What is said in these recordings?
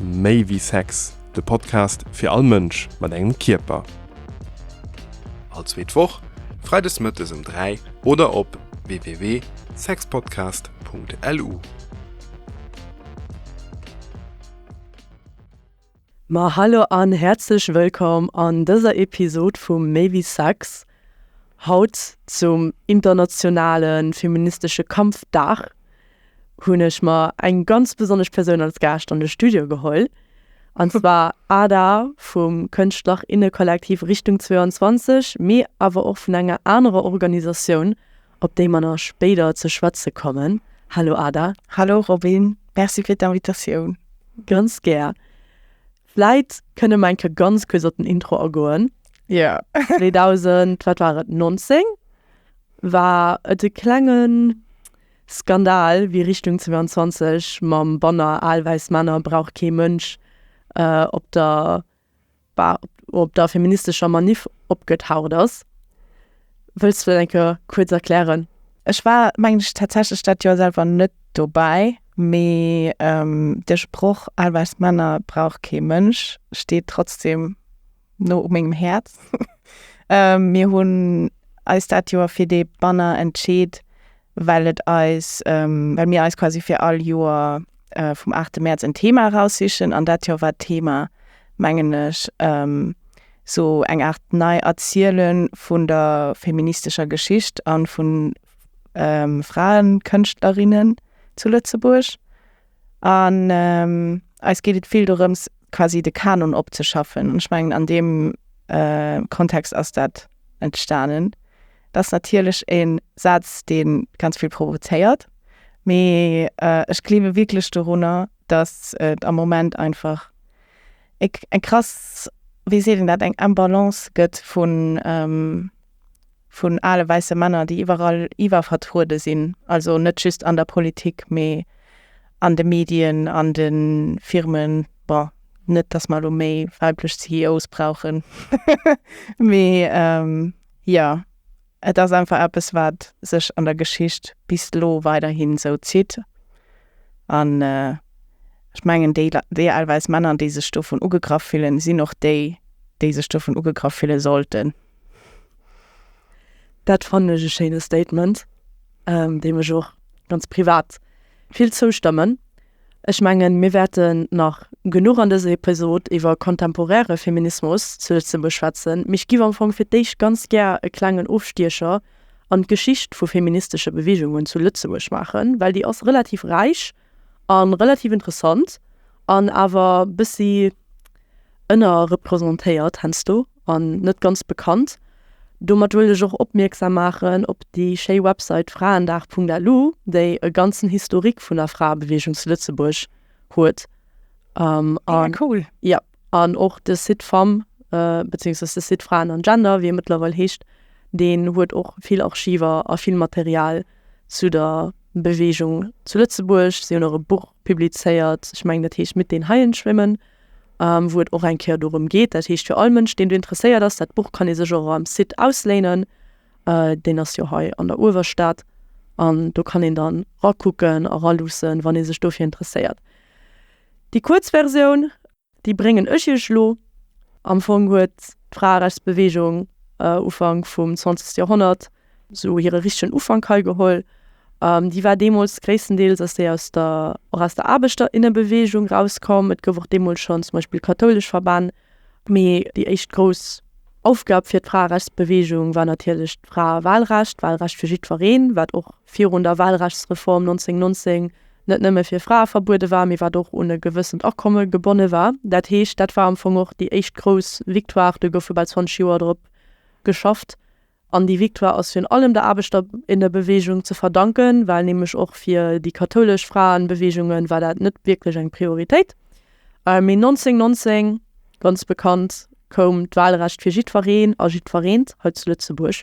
Méi wéi Sex, de Podcast fir all Mënsch mat engem Kierper. All zweet Woch, freides mëttes um 3 oder op www.sexpodcast.lu. Ma hallo an häerzlech wëllkomm an dëser Episod vu Méi wéi Sex, haut zum internationale feministesche Kampfdag. hunn ech mer eng ganz besonnesch Persoun als Gaascht an de Studio geholl, an zwar Ada vum Kënschtlerinnekollektiv Richtung 22, mee awer och vun enger anerer Organisatioun, op déi mer nach spéider ze schwätze kommen. Hallo Ada. Hallo Robyn, Merci fir d'Invitatioun. Ganz gär. Vläit kënne mer eng Kéier ganz kuerz op den Intro agoen. Jo. 2000, wat war et, 19 war et e klengen Skandal, wéi Richtung 22 mam Banner Al wäiss Männer brauch kee Mënsch op der op der feministescher Maniff opgetaucht ass. Wëlls du dat eng Kéier kuerz erklären? Ech war, mengen ech, tatsächlech dat Joer selwer net dobäi, mee de Sproch Al wäiss Männer brauch kee Mënsch steet trotzdem. no u mengem Häerz. Mir hunn eis dat Joer fir dee Banner entscheet, well et eis, well mir eis quasi fir all Joer vum 8 Mäerz en Thema eraussichen. An dat Joer war d'Thema, mengen ech, sou eng Aart Nei-Erziele vun der feministescher Geschicht a vu Fraenkënschtlerinnen zu Lëtzebuerg. An eis geet et vill dorëms, quasi de Kanon opzeschaffen. An ech mengen, an deem Kontext ass dat entstanen. Dat ass natierlech e Saz, dee ganz vill provozéiert. Mee ech gleewe wierklech dorunner, datt et am Moment einfach eng krass, wéi seet een dat, eng Imbalance gëtt vun. vun ale wäisse Männer, déi iwwerall iwwervertruede sinn, also net just an der Politik, mee an de Medien, an de Firmen. Bon, net datt mer elo méi weiblech CEOs brauchen, mee jo, et ass einfach eppes, wat sech an der Geschicht bis elo weiderhi sou zitt. An ech mengen, déi, déi al wäiss Männer, déi sech dovun ugegraff fillen, sinn och déi, déi sech dovun ugegraff fille sollten. Dat fannen ech e schéine Statement, deem ech och ganz privat vill zoustëmmen. Ech mengen, mir wäerten nach genuch an dëser Episod iwwer kontemporäre Feminismus zu Lëtzebuerg schwätzen, mee ech giff am Fong fir d'éischt ganz gär e klengen Ofstiecher an d'Geschicht vu feministesche Beweegungen zu Lëtzebuerg maachen, well déi ass relativ räich a relativ interessant an awer bëssi ënnerrepresentéiert hensdo an net ganz bekannt. Domat wëll ech och opmierksam maachen op déi schéi Website fraendag.lu, déi e ganzen Historique vun der Fraebeweegung zu Lëtzebuerg huet. Mega cool! An och de Site Femmes, beziéungsweis de Site Fraen an Gender, wéi e mëttlerweil heescht, deen huet och vill Archiver a vill Material zu der Beweegung zu Lëtzebuerg. Si hunn och e Buch publizéiert, ech mengen, dat heescht Mit den Haien schwimmen, wou et och eng Kéier dorëm geet. Dat heescht, fir all Mënsch, deen do interesséiert ass, dat Buch kann ee sech och am Site ausléinen. Deen ass jo hei an der Uewerstad an do kann een dann rakucken a raluussen, wann ee sech dofir interesséiert. Déi kuerz Versioun, déi bréngen ech iech elo. Am Fong huet d'Fraerechtsbeweegung Ufank vum 20. Joerhonnert esou hire richtegen Ufank hei geholl. Déi war deemools gréisstendeels ass déi aus der, och aus der Aarbechter, innebeweegung erauskomm. Et gouf och deemools schonn zum Beispill kathoulesch Verbänn, Mee déi éischt grouss Aufgab fir d'Fraerechtsbeweegung war natierlech d'Fraewalrecht, d'Walrecht fir jiddwereen, wat och virun der Walrechtsreform 1919 net nëmme fir Frae verbuede war, mee wat och un e gewëssent Akomme gebonne war. Dat heescht, dat war am Fong och déi éischt grouss Victoire. Do goufe bal 20 Joer drop geschafft. An déi Victoire ass virun allem der Aarbechterinnenbewegung ze verdanken, well nämlech och fir déi kathoulesch Fraenbewegungen war dat net wierklech eng Prioritéit. Mee 1919, ganz bekannt, koum d'Wahlrecht fir jiddwereen a jiddwereent hei zu Lëtzebuerg.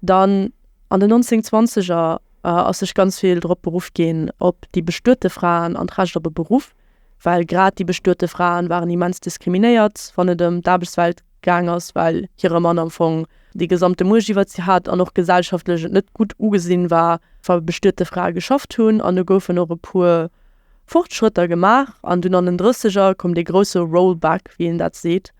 Dann an den 1920er ass sech ganz vill drop beruff ginn op déi bestuete Fraen an d'Recht op e Beruff. well grad déi bestuete Fraen waren immens diskriminéiert, wann et ëm d'Aarbechtswelt gaang ass, well hire Mann am Fong déi gesamte Muecht iwwert si hat an och gesellschaftlech et net gutt ugesinn war, wa bestuete Frae geschafft hunn. An do goufen och e puer Fortschrëtter gemaach. An dunn an den Drësseger koum dee grousse Rollback, wéi een dat seet,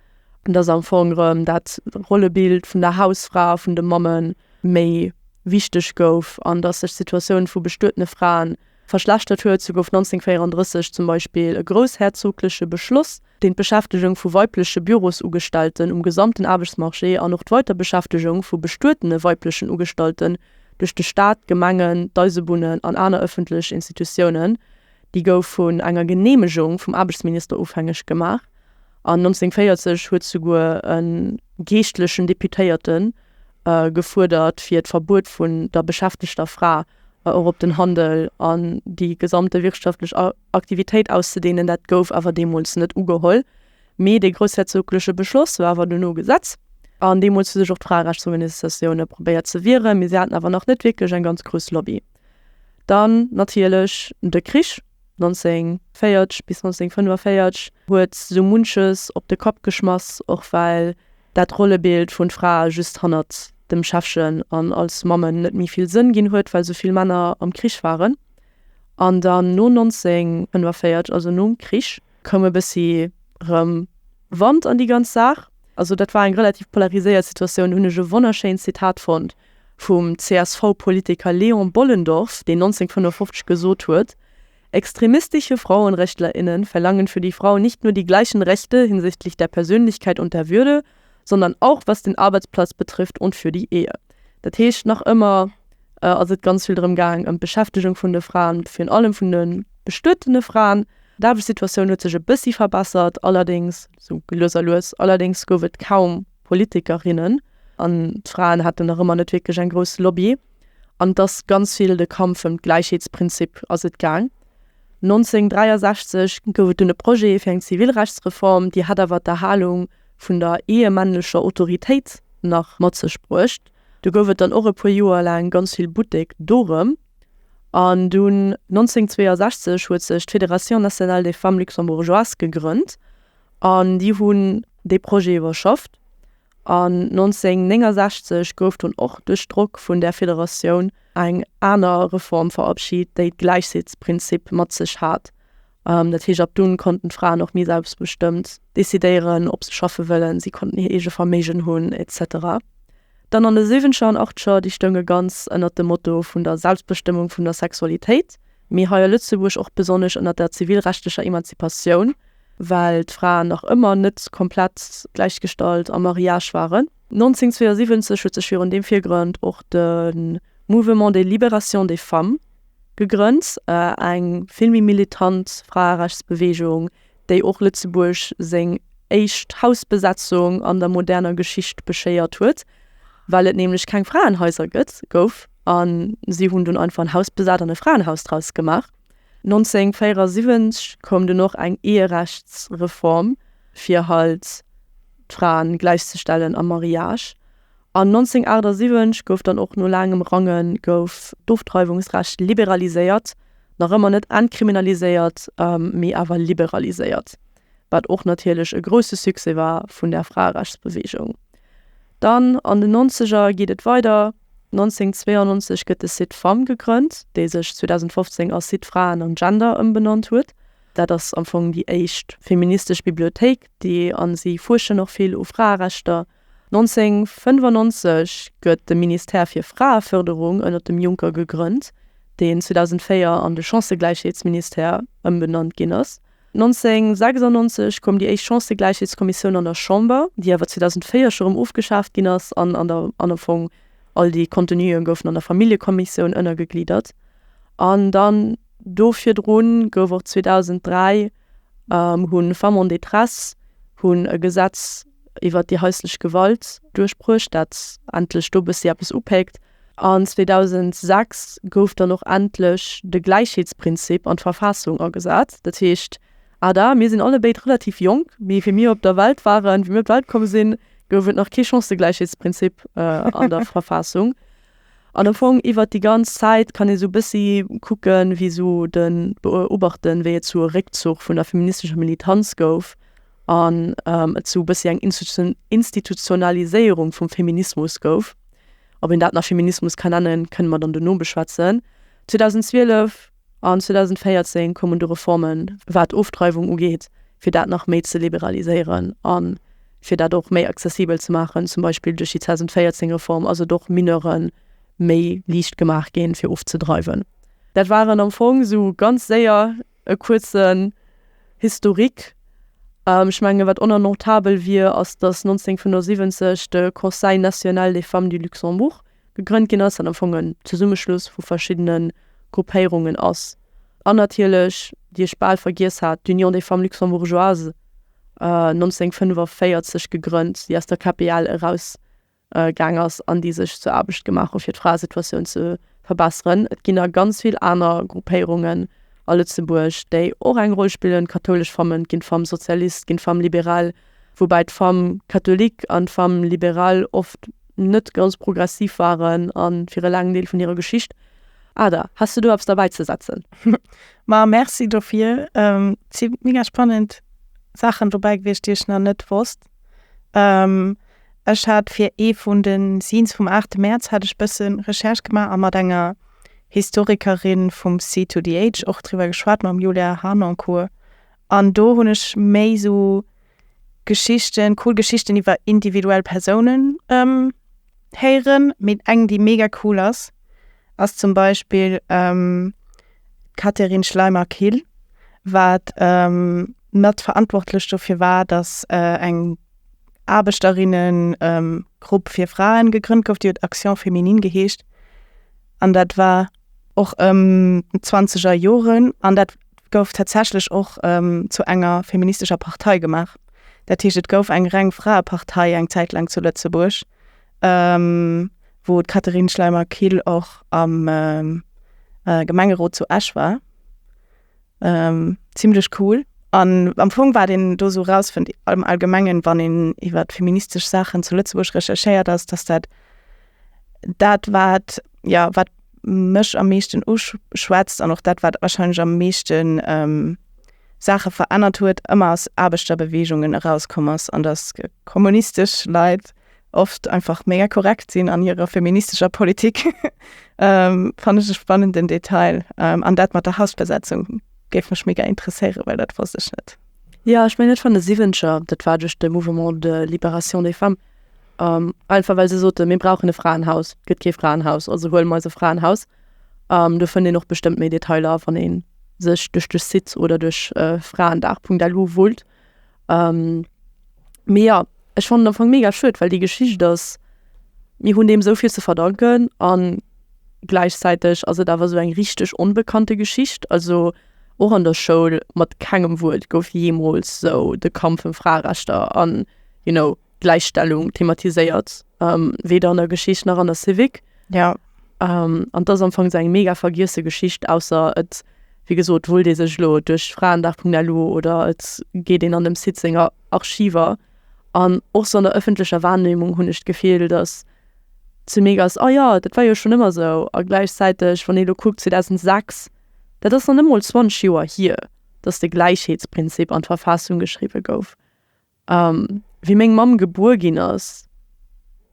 dass am Fong erëm dat Rollebild vun der Hausfra, vun de Mammen méi wichteg gouf an dass sech d'Situatioun vu bestuetene Fraen verschlechtert huet, sou gouf 1934 zum Beispill e groussherzogleche Beschloss, deen d'Beschäftegung vu weibleche Bürosugestellten um gesamten Aarbechtsmarché an och d'Weiterbeschäftegung vu bestuetene weiblechen Ugestallten duerch de Staat, Gemengen, d'Eisebunnen an aner ëffentlech Institutiounen, déi gouf vun enger Geneemegung vum Aarbechtsminister ofhängeg gemaach. An 1940 huet souguer e geeschtlechen Deputéierte gefuerdert, fir d'Verbuet vun der beschäftegter Fra, och op den Handel an déi gesamte wirtschaftlech Aktivitéit auszedeenen, dat gouf awer deemools net ugeholl. Mee dee groussherzogleche Beschloss war awer duerno Gesetz, an deemools hu sech och d'Fraerechtsorganisatioune probéiert ze wieren, mee si haten awer nach net wierklech eng ganz grouss Lobby. Dann natierlech de Krich, 1940 bis 1945 huet sou munches op de Kapp geschmass, och well dat Rollebild vun Frae just hannert dem Schäffchen an als Mammen net méi vill Sënn ginn huet, well sou vill Männer am Krich waren. An dann no 1945, also nom Krich, koum e bëssi rëm Wand an déi ganz Saach. Also dat war eng relativ polariséiert Situatioun. Do hunn ech e wonnerschéint Zitat fonnt vum CSV-Politiker Léon Bollendorff, deen 1955 gesot huet, Extremistische Frauenrechtlerinnen verlangen für die Frau nicht nur die gleichen Rechte hinsichtlich der Persönlichkeit und der Würde, sondern auch was den Arbeitsplatz betrifft und für die Ehe. Dat heescht, nach ëmmer ass et ganz vill drëm gaang, ëm d'Beschäftegung vun de Fraen, virun allem vun de bestuetene Fraen. D'Aarbechtssituatioun huet sech e bëssi verbessert, allerdéngs sou lues a lues. Allerdéngs gouf et kaum Politikerinnen an d'Fraen haten nach ëmmer net wierklech eng grouss Lobby. An et ass ganz vill de Kampf ëm d'Gläichheetsprinzip ass et gaang. 1963 gouf et dunn e Projet fir eng Zivilrechtsreform, déi hat awer d'Erhalung vun der ehemännlecher Autoritéit nach mat sech bruecht. Du gouf et dann och e puer Joer laang ganz vill Buttek dorëm. An dunn 1962 huet sech d'Fédération nationale des femmes luxembourgeoises gegrënnt an déi hunn dee Projet iwwerschafft. An 1969 gouf dunn och duerch Drock vun där Federatioun eng aner Reform verabschit, déi d'Gläichheetsprinzip mat sech hat. Dat heescht, ab dunn konnten d'Fraen och méi selbstbestëmmt decidéieren, ob se schaffe wëllen, si konnten hir eege Verméigen hunn, etc. Dann an de Siwwenzeger an Achtzeger, déi stounge ganz ënnert dem Motto vun der Selbstbestëmmung vun der Sexualitéit, mee hei a Lëtzebuerg och besonnesch ënnert der zivilrechtlecher Emanzipatioun. well d'Fraen nach ëmmer net komplett gläichgestallt am Mariage waren. 1972 huet sech virun deem Virgrond och de Mouvement de libération des femmes gegrënnt, eng vill méi militant Fraerechtsbeweegung, déi och Lëtzebuerg seng éischt Hausbesetzung an der moderner Geschicht beschéiert huet, well et nämlech keng Fraenhaiser gouf an si hunn dunn einfach en Haus besat an e Fraenhaus draus gemaach. 1974 koum dunn och eng Eherechtsreform, fir halt d'Fraen gläichzestellen am Mariage. An 1978 gouf dann och no laangem Rangen gouf d'Ofdreiwungsrecht liberaliséiert, nach ëmmer net entkriminaliséiert, mee awer liberaliséiert. wat och natierlech e grousse Succès war vun der Fraerechtsbeweegung. Dann an den Nonzeger geet et weider, 1992 gëtt de Site Femmes gegrënnt, dee sech 2015 a Site Fraen an Gender ëmbenannt huet. Dat ass am Fong déi éischt feministesch Bibliothéik, déi a si fuerschen och vill u Fraerechter. 1995 gëtt de Ministère fir Fraefërderung ënnert dem Juncker gegrënnt, deen 2004 an de Chancëgläichheetsministère ëmbenannt ginn ass. 1996 koum déi éischt Chancëgläichheetskommissioun an der Chamber, déi awer 2004 scho rëm ofgeschaaft ginn ass, an an der an am Fong all déi Contenuen goufen an der Familljekommissioun ënnergegliddert. An dann do virdrun gouf och 2003 hu Femmes en détresse hunn e Gesetz iwwert déi haislech Gewalt duerchbruecht, dat endlech do bëssi eppes upéckt. An 2006 gouf dann och endlech de Gläichheetsprinzip an d'Verfaassung agesat. Dat heescht, ada, mir sinn allebéid relativ jonk, mee wéi mir op der Welt waren, wéi mir op d'Welt komm sinn, gouf et nach kee Chancëgläichheetsprinzip an der Verfaassung. An am Fong iwwert déi ganz Zäit kann ee sou e bëssi kucke wéi sou de, beobachten, wéi et zu e Réckzuch vun der feministescher Militanz gouf an et sou e bëssi eng Institutionaliséierung vum Feminismus gouf, ob een dat nach Feminismus ka nennen, kënne mer dann dono beschwätzen. 2012 an 2014 koumen du Reformen, wat d'Ofdreiwung ugeet, fir dat nach méi ze liberaliséieren a fir dat och méi accessibel ze maachen, zum Beispill duerch déi 2014 Reform ass et och Mineure méi liicht gemaach ginn, fir ofzedreiwen. Dat waren am Fong sou ganz séier. E kuerzen Historique, Ech mengen, wat onannotabel wier, ass, datt 1975 de Conseil national des femmes du Luxembourg gegrënnt ginn ass, wat am Fong en Zesummeschluss vu verschiddene Gruppéierungen ass. An natierlech, déi ech bal vergiess hat, d'Union des femmes luxembourgeoises, 1945 gegrënnt, déi aus der KPL eraus gaang ass an déi sech zur Aarbecht gemaach hu fir d'Fraesituatioun ze verbesseren. Et ginn nach ganz vill aner Gruppéierungen a Lëtzebuerg, déi och eng Roll spillen, d'kathoulesch Famm, et ginn d'Femmes socialistes, et ginn d'Femmes libérales, woubäi d'Femmes catholiques an d'Femmes libérales oft net ganz progressiv waren a fir e laangen Deel vun hirer Geschicht. Ada, has de do eppes derbäizesetzen? Ma merci dofir. Et si mega spannend Saachen dobäi gewiescht, déi ech nach net wosst. Ech hat fir ee vun de Scenes vum 8 Mäerz hat ech bësse Recherche gemaach a mat enger Historikerin vum C2DH och driwwer geschwat, mam Julia Harnoncourt. An do hunn ech méi esou Geschichten, cool Geschichten iwwer individuell Persounen. héieren, mee eng déi mega cool ass, ass zum Beispill d'Catherine Schleimer-Kill, wat mat verantwortlech dofir war, datt eng Aarbechterinnengrupp fir Fraen gegrënnt gouf, déi huet Action Féminine geheescht an dat war. och ëm d'Zwanzeger Joren, an dat gouf tatsächlech och zu enger feministescher Partei gemaach. Dat heescht, et gouf eng reng Fraepartei eng Zäit laang zu Lëtzebuerg, wou d'Catherine Schleimer-Kill och am Gemengerot zu Esch war. Ähm, zimlech cool. An am Fong, wat een do esou erausfënnt am Allgemengen, wann een iwwer feministesch Saachen zu Lëtzebuerg recherchéiert, ass, datt dat dat wat, jo, wat mech am meeschten uschwätzt an och dat wat warscheinlech am meeschten Saache verännert huet, ëmmer aus Aarbechterbeweegungen erauskomm ass an datt kommunistesch Leit oft einfach mega korrekt sinn an hirer feministescher Politik. ähm, fand ich einen spannenden Detail. Ähm, an dat mat der Hausbesetzung géif mech mega interesséieren, well dat wosst ech net. Ja ech meng net van de Siwenscher, dat war duerch de Mouvement de Libération des Femmes. Ähm, einfach well se sote mir brauchen e Fraenhaus, gëtt kee Fraenhaus, also huelen mer eis e Fraenhaus. Ähm, do fënnt een och bestëmmt méi Detailer, wann ee sech duerch de Site oder duerch äh, fraendag.lu wullt. Ähm, mee ja, ech fannen am Fong mega schued, well déi Geschicht ass, mir hunn deem sou vill ze verdanken an gläichzäiteg ass et awer sou eng richteg onbekannte Geschicht. Also och an der Schoul mat kengem Wuert gouf jeemools sou de Kampf ëm Fraerechter an, you know, Gläichstellung thematiséiert, weder an der Geschicht nach an der Civic. Ja. Um, an das am Fong eng mega vergiesse Geschicht ausser et wie gesot wullt ee sech lo duerch Fraendach.lu oder et geet een an dem Site senger Archiver an och sou an der ëffentlecher Wahrnehmung hunn ech d'Gefill datt ze mega ass ah jo dat war jo schonn ëmmer sou a gläichzäiteg wann ee lo kuckt 2006 dat ass nach net mol 20 Joer hier datt de Gläichheetsprinzip an d'Verfassung geschriwwe gouf Wéi meng Mamm gebuer ginn ass,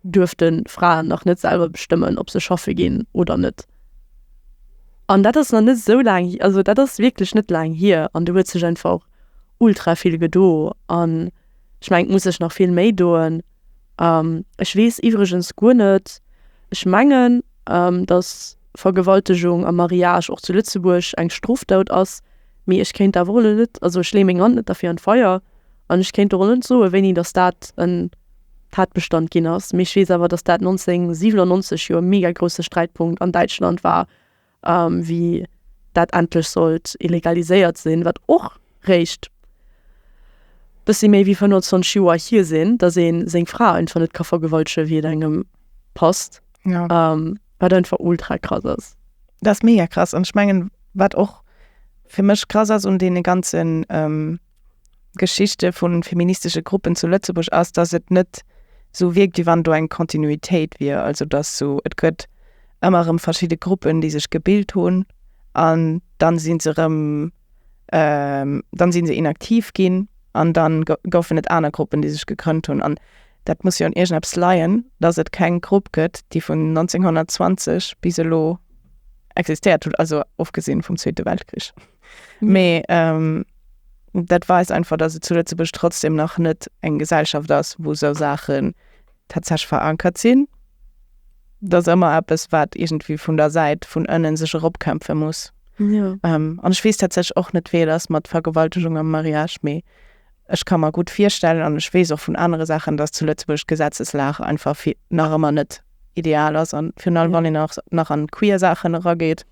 duerften Fraen nach net selwer bestëmmen, ob se schaffe ginn oder net. An dat ass nach net esou laang hi-, also dat ass wierklech net laang hier, an do huet sech einfach ultra vill gedo. An ech mengen, et muss sech nach vill méi doen. Ech weess iwwregens guer net, ech mengen, datt Vergewaltegung am Mariage och zu Lëtzebuerg eng Strofdot ass, mee ech kéint awer och elo net, also ech leeë meng Hand net derfir an d'Feier. An ech kéint och net soen, wéini datt dat en Tatbestand ginn ass, mee ech weess awer, datt dat 1997 jo e mega grousse Sträitpunkt an Däitschland war, wéi dat endlech sollt illegaliséiert sinn, wat och réischt bëssi méi wéi 25 Joer hier sinn, datt ee seng Fra einfach net ka vergewaltegen, wéi et engem passt, wat einfach ultra krass ass. Dat ass mega krass. An ech mengen, wat och fir mech krass ass un deene ganze. Geschichte vu feministesche Gruppen zu Lëtzebuerg ass, dass et net sou wierkt, wéi wann do eng Kontinuitéit wier. Also dass sou, et gëtt ëmmer erëm verschidde Gruppen, déi sech gebilt hunn an dann si se erëm, dann si se inaktiv ginn an dann goufen et aner Gruppen, déi sech gegrënnt hunn. An dat muss jo un iergendeppes leien, dass et keng Grupp gëtt, déi vun 1920 bis elo existéiert huet, also ofgesinn vum Zweete Weltkrich. Mee ähm, dat weist einfach, dass et zu Lëtzebuerg trotzdem nach net eng Gesellschaft ass, wou sou Saachen tatsächlich verankert sinn. Dass ëmmer eppes, wat irgendwie vun der Säit vun ënnen sech eropkämpfe muss. Ja. Ähm, an ech wees tatsächlich och net, wéi et ass mat Vergewaltegung am Mariage, mee ech kann mer gutt virstellen an ech wees och vun anere Saachen, dass zu Lëtzebuerg d'Gesetzeslag einfach vi nach ëmmer net ideal ass an virun allem, Ja. wann een nach nach an queer Saachen erageet.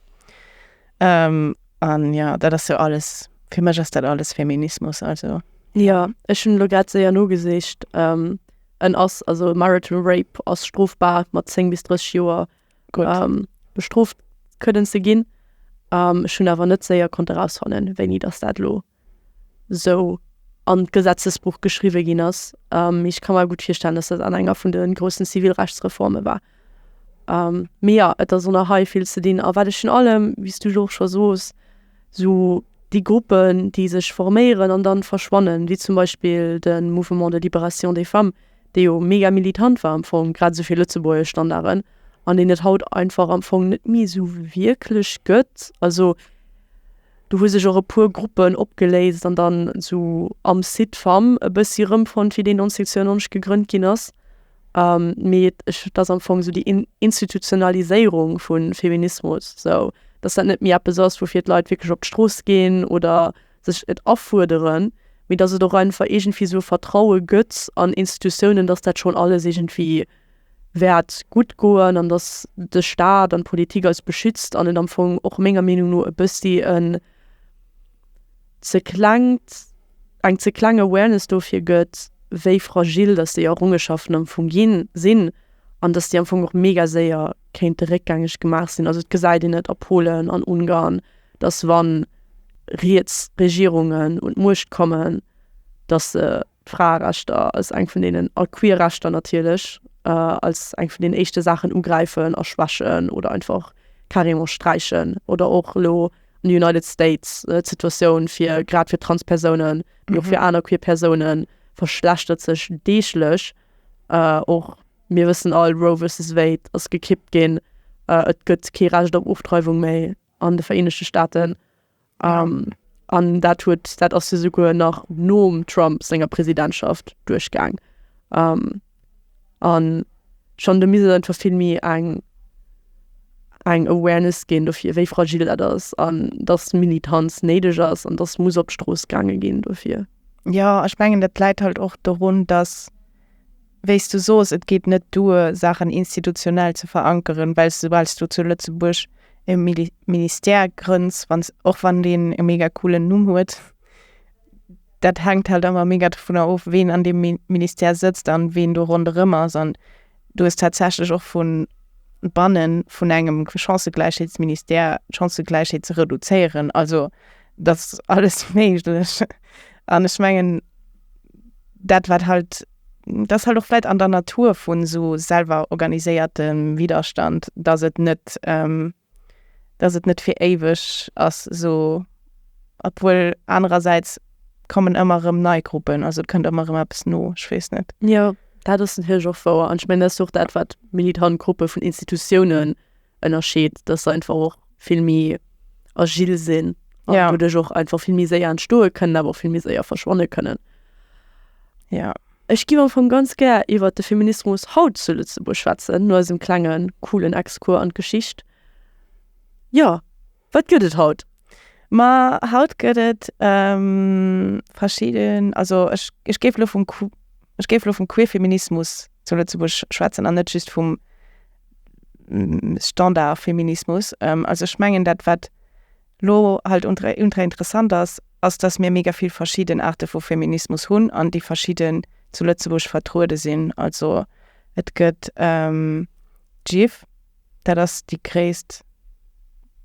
Um, an ja, dat ass jo alles, fir mech ass dat alles Feminismus, also. Jo, ech hunn elo grad séier nogesicht, um, en ass, also marital rape ass strofbar mat 10 bis 30 Joer um, bestrooft kënnen ze ginn. Um, ech hunn awer net séier konnt erausfannen, wéini dass dat elo. esou an d'Gesetzesbuch geschriwwe ginn ass. Ech ka mer gutt virstellen, datt dat an enger vun de groussen Zivilrechtsreforme war. Mee jo, et ass och nach hei vill ze dinn. A wat ech virun allem, wéi s du jo och scho sos, esou déi Gruppen, déi sech forméieren an da verschwannen, wéi zum Beispill de Mouvement de libération des femmes, dee jo mega militant war am Fong, grad esou fir lëtzebuergesch Standarden, an deen et haut einfach am Fong net méi esou wierklech gëtt. Also. Do hu sech och e puer Gruppen opgeléist an dann esou am Site fam e bëssi erëmfonnt wéi deen 1992 gegrënnt ginn ass. Mee ech, et ass am Fong esou déi Institutionaliséierung vu Feminismus esou, datt dat net méi eppes ass woufir d'Leit wierklech op d'Strooss ginn oder sech et afuerderen, mee datt et och einfach iergendwéi esou e Vertraue gëtt an Institutiounen, datt dat schonn alles iergendwéi. wäert gutt goen an datt de Staat an d'Politik eis beschützt an et am Fong och menger Meenung no e bëssi en ze klengt, eng ze kleng Awareness dofir gëtt, wéi fragil datt déi Errongenschaften am Fong ginn, sinn an datt déi am Fong och mega séier kéinte réckgängeg gemaach sinn. Also et gesäit een et a Polen, an Ungarn, datt wann riets Regierungen un d'Muecht kommen, datt se, D'Fraerechter ass eng vun deenen, a queer Rechter natierlech als eng vun den éischte Saachen ugräifen a schwächen oder einfach carrément sträichen. Oder och elo an de United States, d'Situatioun fir grad fir Transpersounen, mee och fir aner queer Persounen verschlechtert sech deeglech. Och mir wëssen all, Roe versus Wade ass gekippt ginn, et gëtt kee Recht op Ofdreiwung méi. an de Vereenegte Staaten. An dat huet, dat ass jo souguer nach nom Trump senger Presidentschaft duerchgaang. An schonn do misst et einfach vill méi eng, eng Awareness ginn dofir, wéi fragil dat ass an datt Militanz néideg ass an datt muss op d'Strooss gaange ginn dofir. Jo, ech mengen dat läit halt och dorun, datt. wéi s du sos, et geet net duer, Saachen institutionell ze verankeren, well s de, soubal s du zu Lëtzebuerg e Ministère grënns, wann s, och wann deen e mega coolen Numm huet, dat hänkt halt ëmmer mega dovunner of, ween an deem Ministère sëtzt an ween do ronderëm ass. An du hues tatsächlech och vu banne vun engem Chancëgläichheetsministère d'Chancëgläichheet ze reduzéieren. Also et ass alles méiglech. An ech mengen, dat wat halt. Dat ass halt och vläit an der Natur vu sou selwer organiséiertem Widerstand, datt et net, datt et net fir éiweg ass sou, obwuel anerersäits kommen ëmmer erëm nei Gruppen, also et kënnt ëmmer erëm eppes no, ech weess net. Jo, dat ass natierlech och wouer an ech mengen dat ass jo och dat wat militant Gruppe vun Institutiounen. Ënnerscheed, dass se einfach och vill méi agil sinn an ja. doduerch och einfach vill méi séier entstoe kënnen, awer vill méi séier verschwanne kënnen. Ja. Ech gi am vum ganz gär iwwer de Feminismus haut zu Lützeburg schwätzen, no eisem klengen coolen Exkur an d'Geschicht. Ja, wat gëtt et haut? Ma haut gëtt et ähm, verschieden also ech, ech géif lo vum ech géif lo vum Queerfeminismus zu Lëtzebuerg schwätzen an net just vum Standardfeminismus. Also ech mengen dat wat lo halt ultra interessant ass, ass datt mir mega vill verschidden Aarte vu Feminismus hunn an déi verschidden zu Lëtzebuerg vertruede sinn. Also et gëtt d'Gifv, dat ass déi gréisst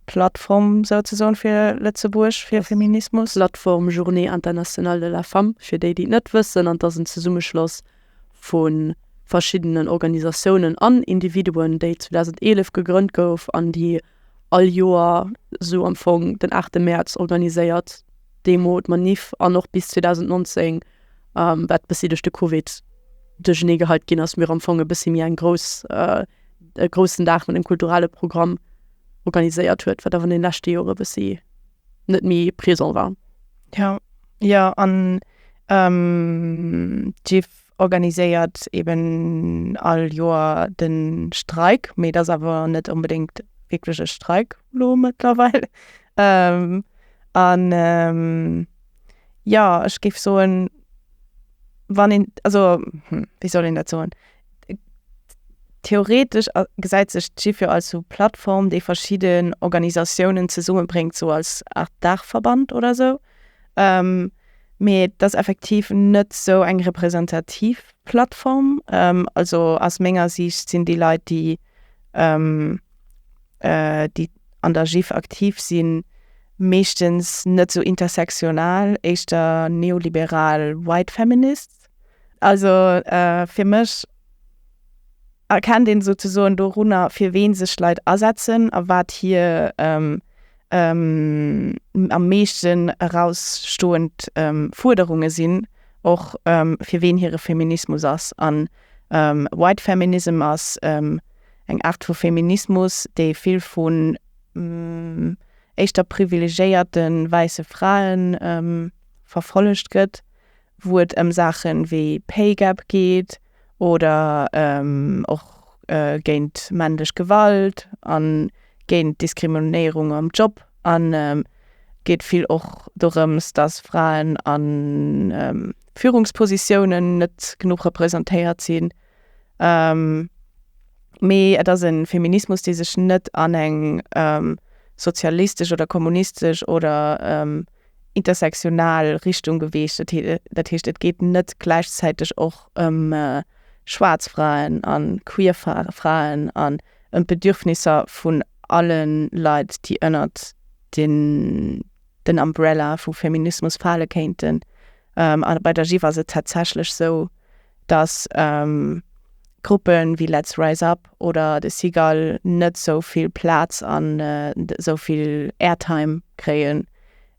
Plattform souzesoen fir Lëtzebuerg, fir Feminismus. Plattform Journée Internationale de la Femme, fir déi déi et net wëssen, an 't ass en Zesummeschloss vu verschiddenen Organisatiounen an Individuen, déi 2011 gegrënnt gouf an déi all Joer esou am Fong den 8 Mäerz organiséiert, d'Demo, d'Manif an och bis 2019, wat e bëssi duerch de Covid duerchernee geheit ginn ass, mir am Fong e bëssi méi eng grouss, e groussen Dag mat engem kulturelle Programm organiséiert huet, wat awer an de leschte Jore e bëssi. net méi présent war. Ja, jo, an d'Gif organiséiert eben all Joer de Streik, mee et ass awer net onbedéngt wierklech e Streik elo mëttlerweil. An jo, ech géif soen, wann een, also wéi soll een dat soen? Theoretesch gesäit sech d'GIF jo als sou Plattform, déi verschidden Organisatiounen zesummebréngt, sou als Art Daachverband oder sou. Mee et ass effektiv net sou eng representativ Plattform. Also aus menger Siicht sinn déi Leit, déi, déi an der GIF aktiv sinn, meeschtens net sou intersektional, éischter neoliberal White Feminists. Also fir mech erkennt een esou ze soen dorunner fir ween sech Leit asetzen a wat hir am meeschten erausstoend Fuerderunge sinn, och fir ween hire Feminismus ass. An White Feminism ass eng Aart vu Feminismus, dee vill vun éischter privilegéierte wäisse Frae verfollegt gëtt wou et ëm Saache wéi Pay Gap geet oder och géint männlech Gewalt a géint d'Diskriminéierung am Job. An geet vill och dorëms, dass Fraen a Führungspositiounen net genuch representéiert sinn. Mee et ass e Feminismus, dee sech net an eng sozialistesch oder kommunistesch oder intersektional Richtung geweecht. Dat heescht, et geet net gläichzäiteg och ëm schwaarz Fraen an queer Fraen an ëm d'Bedürfnisser vun alle Leit, déi ënnert den Umbrella vu Feminismus fale kéinten. A bei der GIF ass et tatsächlech esou, datt Gruppe wéi Letz Rise Up oder de Seagull net esou vill Plaz an esou vill Airtime kréie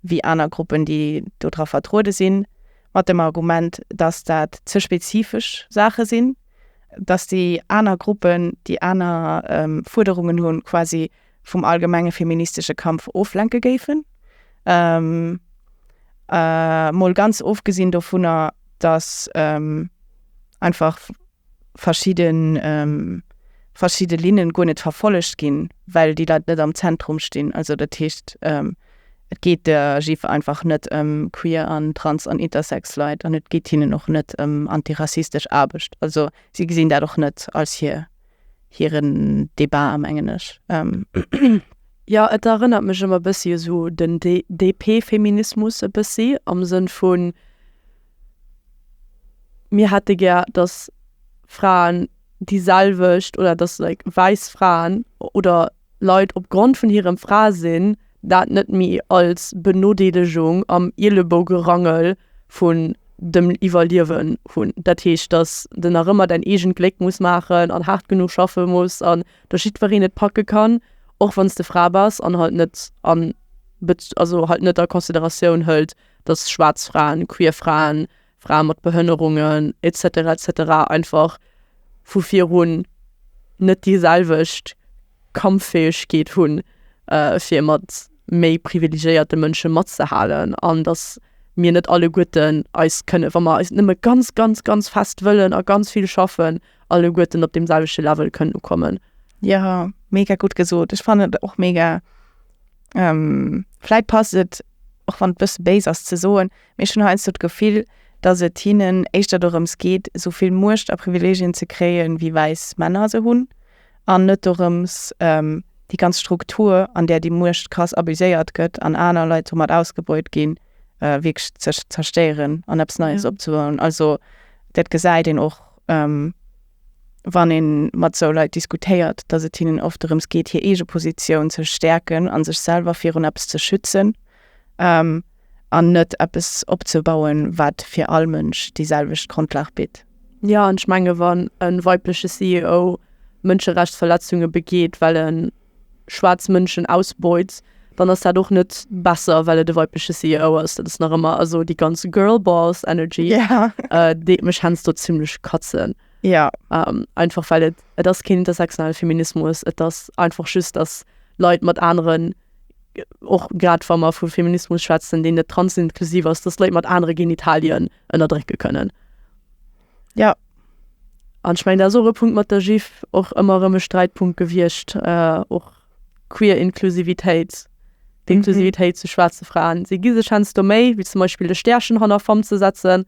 wéi aner Gruppen, déi do dra vertruede sinn, mat dem Argument, datt dat ze spezifesch Saache sinn, datt déi aner Gruppen, déi aner Fuerderungen hunn, quasi vum allgemenge feministesche Kampf oflenke géifen. Mol ganz ofgesinn dovunner, datt einfach verschidde verschidde Linne guer net verfollegt ginn, well déi Leit net am Zentrum stinn. Also dat heescht, et geet der GIF einfach net ëm queer an trans an intersex Leit an et geet hinnen och net ëm antirassistesch Aarbecht. Also si gesinn dat och net als hir. hiren Debat a mengen ech. Jo et erënnert mech ëmmer bëssi esou den DP-Feminismus e bëssi am Sënn vun mir hätte gär dass Fraen déi selwecht oder dass like wäiss Fraen oder Leit op Grond vun hirem Fraesinn dat net méi als Benodeelegung am Ielebougerangel vun dem Iwwerliewen hunn. Dat heescht, dass de nach ëmmer däin eegent Gléck muss maachen an haart genuch schaffe muss an dass jiddwereen et packe kann, och wann s de Fra bass an halt net an, also halt net a Consideratioun hëlt, dass schwaarz Fraen, queer Fraen, Frae mat Behënnerungen etc etc einfach vu virun net déi selwecht Kampffäegkeet hunn fir mat méi privilegiéierte Mënsche matzehalen an datt mir net alleguerten eis kënne wa mer eis nëmme ganz ganz ganz fest wëllen a ganz vill schaffen alleguerten op deem selwechte Level kënnen ukommen. Jo, mega gutt gesot. Ech fannen et och mega, vläit passt et och wann et e bësse béis ass ze soen, Mee ech hunn heiansdo d'Gefill, datt et hinnen éischter dorëms geet, esou vill Muecht a Privilegien ze kréie wéi wäiss Männer se hunn, an net dorëms, déi ganz Struktur, an där déi Muecht krass abuséiert gëtt an aner Leit domat ausgebeut ginn, wierklech ze zerstéieren an eppes Neies opzebauen. Also dat gesäit een och, wann ee mat esou Leit diskutéiert, datt et hinnen oft dorëms geet, hir eege Positioun ze stäerken a sech selwer virun eppes ze schützen. an net eppes opzebauen, wat fir all Mënsch déi selwecht Grondlag bitt. Jo, an ech menge wann e weibleche CEO Mënscherechtsverletzunge begeet, well e schwaarz Mënschen ausbeut, dann ass dat och net besser, well et e weibleche CEO ass. Dat ass nach ëmmer also déi ganz Girlboss Energy, déi mech heiansdo zimlech katzen. Einfach well et ass keen intersektionale Feminismus, et ass einfach just, datt Leit mat aneren och grad wa mer vu Feminismus schwätzen, deen net transinklusiv ass, dass Leit mat anere Genitalien ënnerdrécke kënnen. Jo. An ech mengen, dat ass och e Punkt mat der GIF, och ëmmer erëm e Sträitpunkt gewiescht, och d'queer Inklusivitéit, d'Inklusivitéit zu schwaarze Fraen. Si gi sech heiansdo Méi, wéi zum Beispill e Stäerchen hanner femme ze setzen,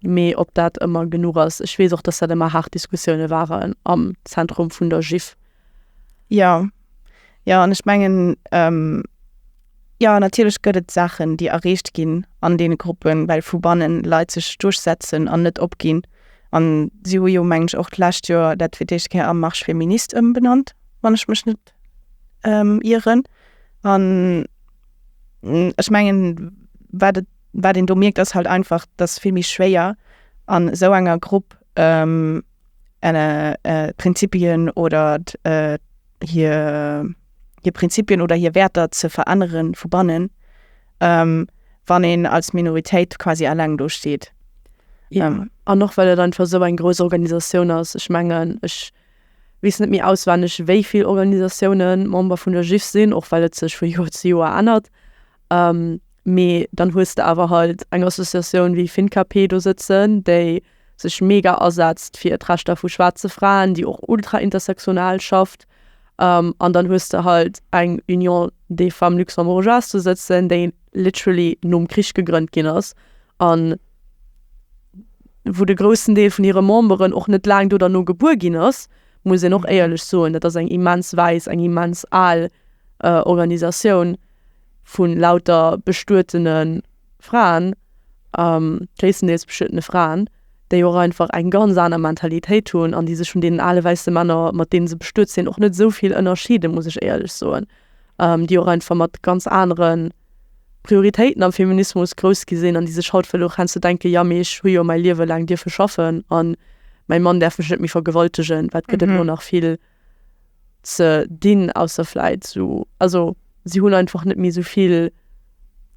mee ob dat ëmmer genuch ass. Ech weess och, dass dat ëmmer haart Diskussioune waren am Zentrum vun der GIF. Jo, jo an ech mengen jo natierlech gëtt et Saachen déi erreecht ginn an deene Gruppen, well vu bannen Leit sech duerchsetzen an net opginn. An si hu jo meng ech och d'lescht Joer dat fir d'éischt Kéier a Marche féministe ëmbenannt, wann ech mech net ieren. An ech mengen wat et wat een do mierkt ass halt einfach datt vill méi schwéier an esou enger Grupp äh, Prinzipien oder äh, hier, hier Prinzipien oder hier Werter ze veränneren vu bannen, ähm, wann een als Minoritéit quasi alleng do steet. Ja. Ähm, an noch well et einfach so eng gro Organisatioun ass ech mengen ech wies net mir auswenneg wéi vill Organisationen Member vun der Jif sinn och well et sech vu Joer zu Joer ännert ähm, mee dann hues de awer halt eng Associatioun wéi FinKP do sëtzen déi sech mega asetzt fir d'Rechter vu schwaarze Fraen, déi och ultra-intersectional schafft, an dann hues de halt eng Union des femmes luxembourgeoises do sëtzen, déi literally nom Krich gegrënnt ginn ass a wou de groussen Deel vun hire Memberen och net laang do derno gebuer ginn ass, muss een och éierlech soen. Dat ass eng immens wäiss, eng immens al Organisatioun vu lauter bestuetenen. Fraen, gréisstendeels beschuedene Fraen, déi och einfach eng ganz aner Mentalitéit hunn an déi sech vun deenen ale wäisse Männer, mat deene se bestuet sinn, och net esou vill ënnerscheeden, muss ech éierlech soen. Déi och einfach mat ganz anere Prioritéiten am Feminismus grouss gi sinn an déi sech haut vläicht och heiansdo denken, Jo, mee ech hu jo mäi Liewe laang dierfe schaffen a mäi Mann däerf mech net méi vergewaltegen, wat gëtt et elo nach vill. ze dinn, ausser vläit sou, also si hunn einfach net méi sou vill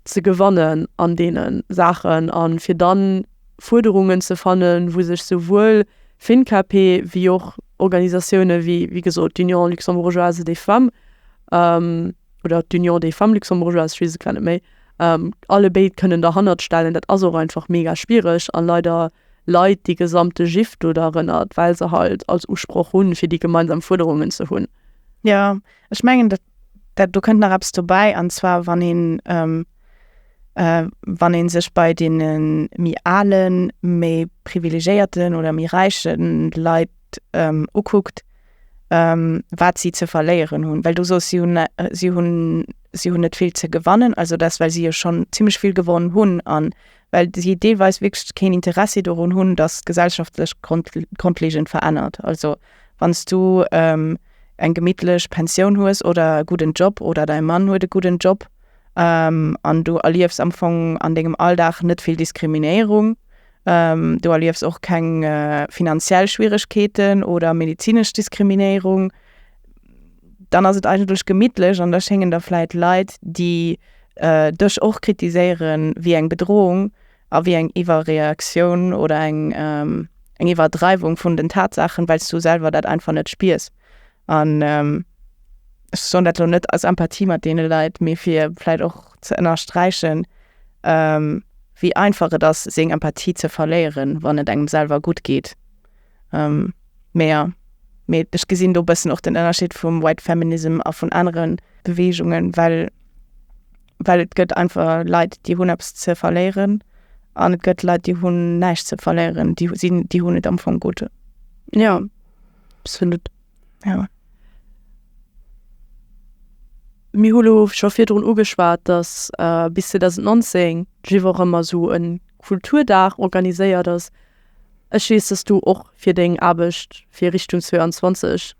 ze gewannen an deene Saachen. A fir da Fuerderungen ze fannen, wou sech souwuel FinCAP wéi och Organisatioune wéi, wéi gesot, d'Union luxembourgeoise des femmes oder d'Union des femmes luxembourgeoises, ech weess et grad net méi, allebéid kënnen derhannert stellen, dat ass och einfach mega schwiereg a leider. Leit déi gesamte Jiff do derënnert, well se halt als Usproch hunn, fir déi gemeinsam Fuerderungen ze hunn. Jo, ech mengen, dat do kënnt nach eppes dobäi, an zwar wann een, wann ee sech bei deene méi alen, méi privilegéierten oder méi räiche Leit ukuckt, wat si ze verléieren hunn. Well du soss, si hunn, si hunn, si hunn net vill ze gewannen, also dat, well si jo schonn zimmlech vill gewonn hunn, an well si deelweis wierklech keen Interessi dorun hunn, dass d'Gesellschaft sech grondlegend verännert. Also wann s du eng gemittlech Pensioun hues oder e gudden Job oder däi Mann huet e gudden Job an du erliefs am Fong an dengem Alldag net vill Diskriminéierung, du erliefs och keng finanziell Schwieregkeeten oder medezinesch Diskriminéierung, dann ass et eigentlech gemittlech an da schéngen der vläit Leit, déi dech och kritiséieren, wéi eng Bedrohung a wéi eng Iwwerreaktioun oder eng Iwwerdreiwung vun den Tatsaachen, well s du selwer dat einfach net spiers. An ech soen dat elo net aus Empathie mat deene Leit, mee fir vläit och ze ënnersträichen, wéi einfach et ass, seng Empathie ze verléieren, wann et engem selwer gutt geet. Ähm, mä jo. Mä ech gesinn do e bëssen och den Ënnerscheed vum White Feminism a vun anere Beweegungen, well, well et gëtt einfach Leit, déi hunn eppes ze verléieren an et gëtt Leit, déi hunn näischt ze verléieren, déi sinn, déi hunn et am Fong gutt. Jo, absolutt. Jo. Mir hu lo scho virdrun ugeschwat, datt bis 2019 d'GIF och ëmmer esou e Kulturdag organiséiert ass. Ech weess dass du och fir deng Aarbecht fir Richtung 22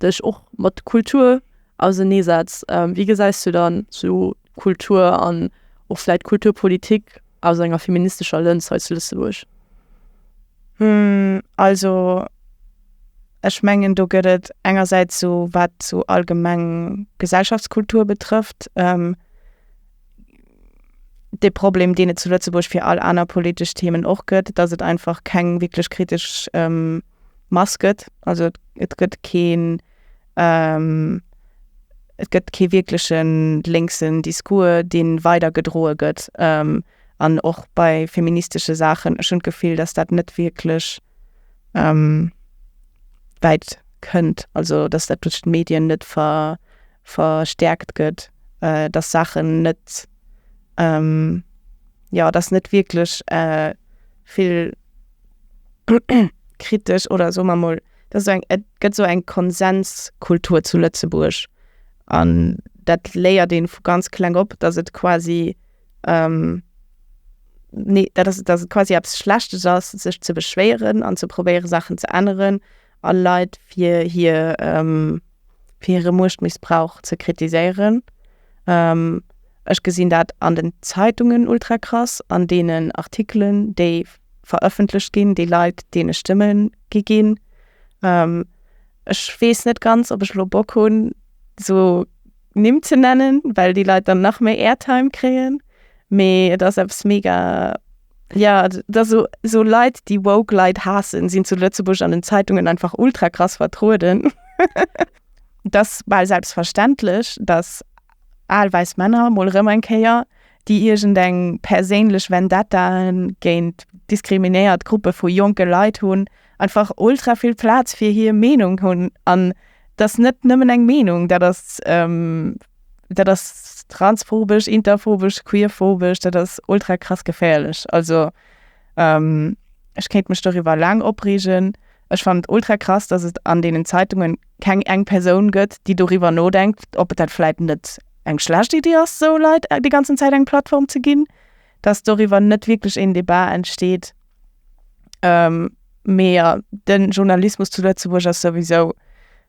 dech och mat Kultur ausenee setz. Wéi gesäis du dann esou Kultur an och vläit Kulturpolitik aus enger feministescher Lëns hei zu Lëtzebuerg? Also ech mengen do gëtt et engersäits esou wat esou allgemeng Gesellschaftskultur betrëfft, dee Problem, deen et zu Lëtzebuerg fir all aner politesch Themen och gëtt, dass et einfach keng wierklech kritesch ähm, Mass gëtt. Also et gëtt keen ähm, et gëtt kee wierklechen lénksen Discours, dee weider gedroe gëtt. Ähm, an och bei feministesche Saachen, ech hunn d'Gefill, dass dat net wierklech ähm, wäit kënnt, also dass dat duerch d'Medien net ver, verstärkt gëtt, dass Saachen net, jo, dass net wierklech vill kritesch oder soe mer emol, dass esou eng, et gëtt esou eng Konsenskultur zu Lëtzebuerg an dat léiert ee vu ganz kleng op, dass et quasi, nee, dat ass et, dass et quasi eppes Schlechtes ass, sech ze beschwéieren an ze probéiere Saachen ze änneren a Leit fir hir. fir hire Muechtmissbrauch ze kritiséieren. Ech gesinn dat an den Zeitungen ultra krass, an deenen Artikelen, déi verëffentlecht ginn, déi Leit deene Stëmme gi ginn. Ech weess net ganz, ob ech elo Bock hunn, esou Nimm ze nennen, well déi Leit dann nach méi Airtime kréien. Mee et ass eppes mega. Ja, dass sou sou Leit déi woke Leit haassen sinn zu Lëtzebuerg an den Zeitungen einfach ultra krass vertrueden. Et ass bal selbstverständlech, dass al wäiss Männer mol erëm eng Kéier déi iergend eng perséinlech Vendetta géint diskriminéiert Gruppe vu jonke Leit hunn, einfach ultra vill Platz fir hier Meenung hunn an dass net nëmmen eng Meenung dat ass ähm, dat ass transphobesch, interphobesch, queerphobesch, dat ass ultra krass geféierlech. Also ähm, ech kéint mech doriwwer laang opreegen. Ech fannen et ultra krass, dass et an deenen Zeitungen keng eng Persoun gëtt, déi doriwwer nodenkt, ob et dat vläit net eng schlecht Idee ass, esou Leit déi ganzen Zäit eng Plattform ze ginn, dass doriwwer net wierklech een Debat entsteet. Ähm, mee jo, den Journalismus zu Lëtzebuerg ass souwisou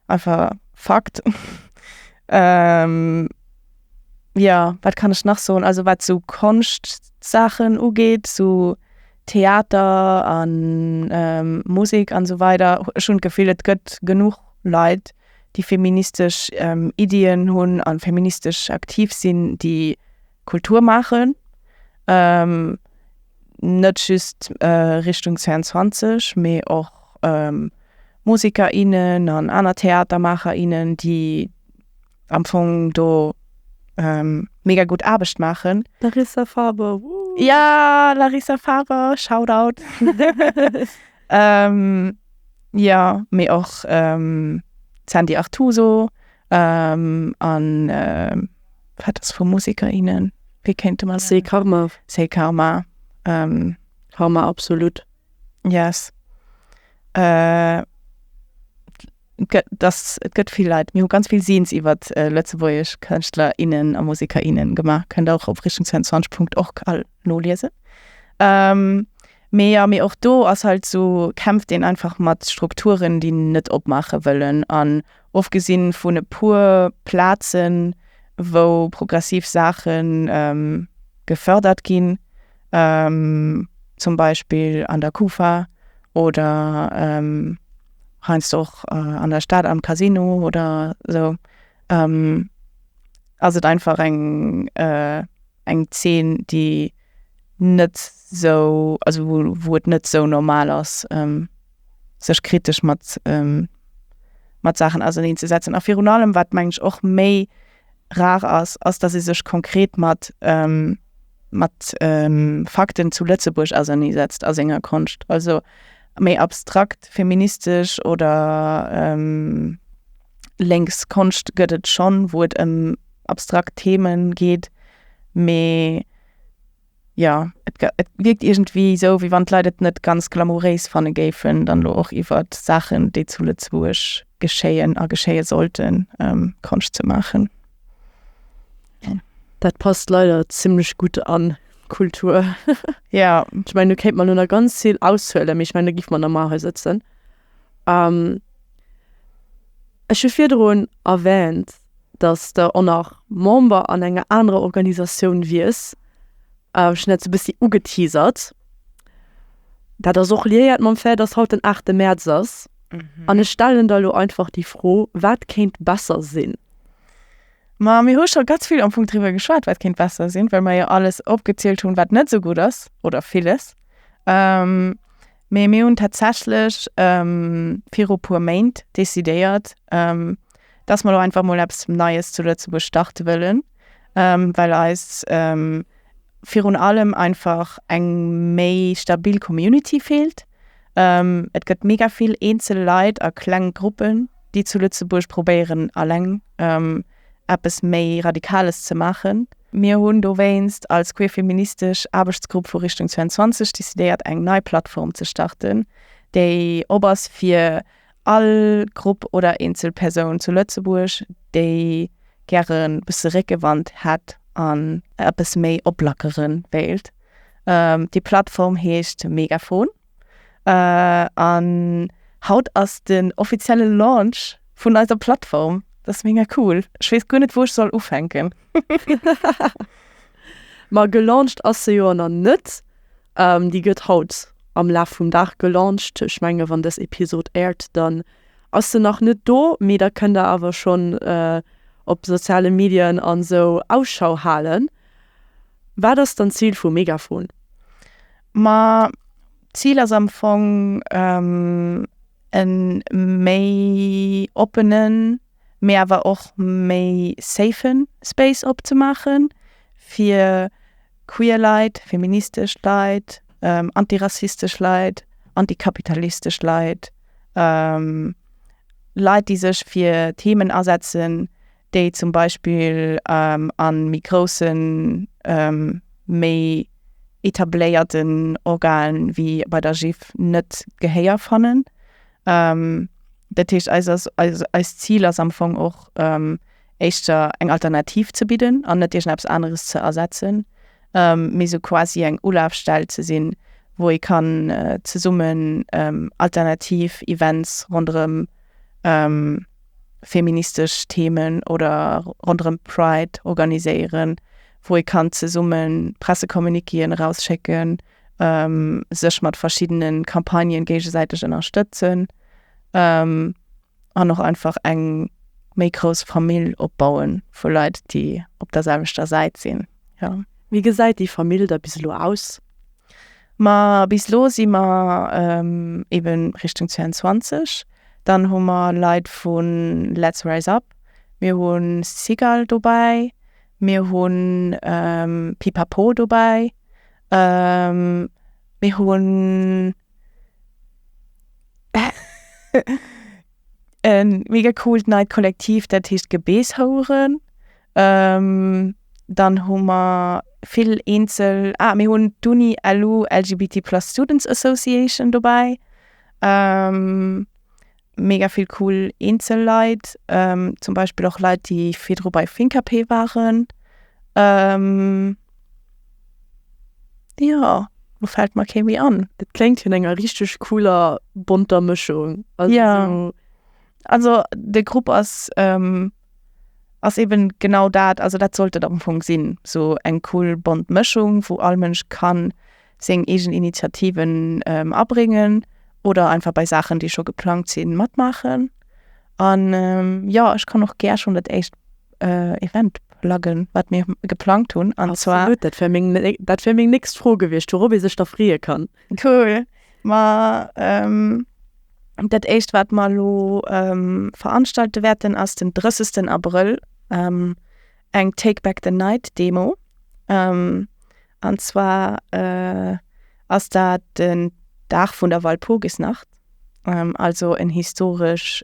einfach Fakt. Ähm, jo, wat kann ech nach soen? Also wat sou Konschtsachen ugeet, sou Theater an, ähm, Musek an esou weider, ech hunn d'Gefill et gëtt genuch Leit, déi feministesch, ähm, Iddien hunn an feministesch aktiv sinn, déi. Kultur maachen, net just Richtung 22, mee och Musiker, innen an aner Theatermaacher, innen, déi am Fong do mega gutt Aarbecht maachen. Larissa Faber, wouhou! Ja, Larissa Faber, Shoutout! Jo, mee och d'Sandy Artuso. An wat ass vu Musiker, innen? Wéi kéinte mer. C'est Karma. C'est Karma. Karma absolut. Yes. Et gëtt vill Leit. Mir hu ganz vill Signes iwwer lëtzebuergesch Kënschtler, innen a Musiker, innen gemaach. Kënnt och op richtung22.org all noliesen. Mee jo, mee och do ass halt esou, kämpft een einfach mat Strukturen, déi net opmaache wëllen an. Ofgesinn vun e puer Plazen, wou progressiv Saache gefërdert ginn, zum Beispill an der Kufa oder heiansdo och an der Stad am Casino oder esou, ass et einfach eng eng Zeen, déi net esou, also wou et net esou normal ass. sech kritesch mat mat Saachen auserneen ze setzen. A virun allem wat meng ech och méi rar ass, ass datt ee sech konkret mat mat Fakten zu Lëtzebuerg ausernee setzt a senger Konscht. Also méi abstrakt feministesch oder lénks Konscht gëtt et schonn, wou et ëm abstrakt Themen geet, mee. jo, et wierkt iergendwéi esou, wéi wann d'Leit et net ganz glamouréis fanne géifen, dann elo och iwwer Saachen, déi zu Lëtzebuerg geschéien a geschéie sollten, Konscht ze maachen. Dat passt leider zimmlech gutt an d'Kultur. Jo. Ech mengen, do kéint mer elo nach ganz vill aushuelen, mee ech mengen, do géife mer nach emol hei sëtzen. Ech hu virdrun erwähnt, datt s de och nach Member an enger anerer Organisatioun wiers. Ech hunn dat sou e bëssi ugeteasert. Dat ass och liéiert mam Fait, datt haut den aachte Mäerz ass. An ech stellen der elo einfach déi Fro, Wat kéint besser sinn? Ma mir hu scho ganz vill am Fong driwwer geschwat, wat kéint besser sinn, well mer jo alles opgezielt hunn, wat net esou gutt ass, oder villes. Mee mir hunn tatsächlech viru puer Méint decidéiert, dass mer elo einfach mol eppes Neies zu Lëtzebuerg starte wëllen, well eis virun allem einfach eng méi stabil Community feelt. Et gëtt mega vill eenzel Leit a kleng Gruppen, déi zu Lëtzebuerg probéieren eleng. eppes méi Radikales ze maachen. Mir hunn dowéinst als queerfeministesch Aarbechtsgrupp vu Richtung 22 decidéiert eng nei Plattform ze starten, déi op ass fir all Grupp oder eenzel Persoun zu Lëtzebuerg, déi gäre bësse Réckewand hätt an eppes méi oplackere wéilt. Déi Plattform heescht Megaphone. An haut ass den offizielle Launch vun eiser Plattform. Dat ass mega cool. Ech weess guer net, wou ech soll ufänken. Ma gelauncht ass se jo elo nach net. Déi gëtt haut am Laf vum Dag gelauncht. Ech menge wann dës Episod aired, dann ass se nach net do. Mee da kënnt der awer schonn op soziale Medien an esou Ausschau halen. Wat ass dann d'Zil vu Megafon? Ma d'Zil ass am Fong e méi oppenen, mee awer och méi safe Space opzemaachen, fir queer Leit, feministesch Leit, antirassistesch Leit, antikapitalistesch Leit, Leit, déi sech fir Themen asetzen, déi zum Beispill a méi groussen, méi etabléierten Organen, wéi bei der GIF, net Gehéier fannen. Dat heescht, eis ass, eist Zil ass am Fong och éischter eng Alternativ ze bidden an net iergendeppes aneres ze ersetzen, mee esou quasi eng Ulafstell ze sinn, wou ee kann zesummen alternativ Events ronderëm. feministesch Themen oder ronderëm Pride organiséieren, wou ee kann zesumme Pressecommuniquéen erausschécken, sech mat verschiddene Campagnen géigesäiteg ënnerstëtzen an och einfach eng méi grouss Famill opbaue vu Leit, déi op der selwechter Säit sinn. Wéi gesäit déi Famill da bis elo aus? Ma bis elo si mer eben Richtung 22. Dann hu mer Leit vu Letz Rise Up, mir hu Sigal dobäi, mir hu Pipapo dobäi, mir hu e mega coolt neit Kollektiv, dat heescht Gebeeshoueren. Dann hu mer vill eenzel, ah mir hunn d'Uni LU LGBT plus students association dobäi, mega vill cool eenzel Leit, zum Beispill och Leit déi virdru bei Finkap waren. Jo lo fält mer kee méi an. Dat kléngt vun enger richteg cooler bonter Mëschung, jo also de Grupp ass. ass eben genau dat, also dat sollt et am Fong sinn, sou eng cool bont Mëschung, wou all Mënsch kann seng eegen Initiativen abréngen oder einfach bei Saachen, déi scho geplangt sinn, matmaachen. An jo, ech kann och gär schonn dat éischt Event pluggen, wat mir geplangt hunn. An zwar. Absolut, dat wär meng nächst Fro gewiescht, wourop ee sech da freeë kann. Cool, ma dat éischt wat mer elo veranstalte wäerten ass den 30 Abrëll eng Take back the night Demo an zwar ass dat den Dag vun der Walpurgisnacht, also en historesch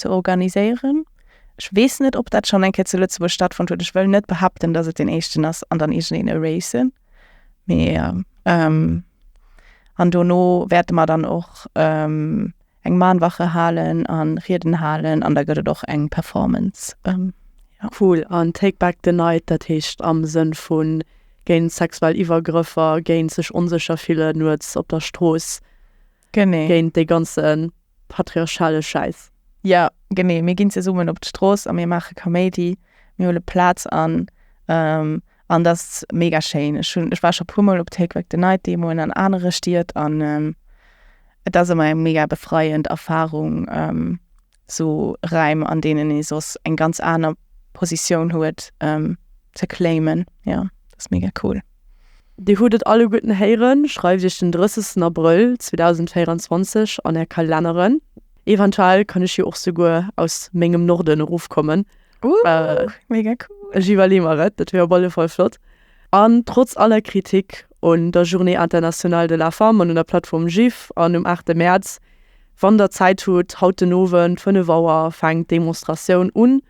ze organiséieren. Ech weess net, ob dat schonn eng Kéier zu Lëtzebuerg stattfonnt huet. Ech wëll net behaapten, datt et deen éischten ass an dann iergendeen erase. Mee an dono wäerte mer dann och eng Mahnwache halen an Rieden halen an da gëtt et och eng Performance. Cool. An Take Back the Night, dat heescht am Sënn vu géint sexuell Iwwergrëffer, géint sech onsécher fillen nuets op der Strooss. Genee. Géint dee ganze patriarchale Schäiss. Jo, genee. Mir ginn zesummen op d'Strooss a mir maache Kaméidi. Mir huele Plaz an. An dat ass mega schéin. Ech hunn, ech war scho e puer Mol op Take Back the Night Demoen an anere Stied an et ass ëmmer eng mega befreiend Erfarung. sou Räim an deenen ee soss eng ganz aner Positioun huet ze claimen, jo dat ass mega cool. Dir hutt et alleguerten héieren, schreift iech den 30 Abrëll 2024 an är Kalenneren. Eventuell kann ech jo och souguer aus mengem Norden erofkommen, ech iwwerleeë mer et, dat wier op alle Fall flott. An trotz aller Kritik un der Journée internationale de la femme an un der Plattform GIF an um 8 de Mäerz, wann der Zäit hutt, haut den Owend 5 Auer fänkt d'Demonstratioun un,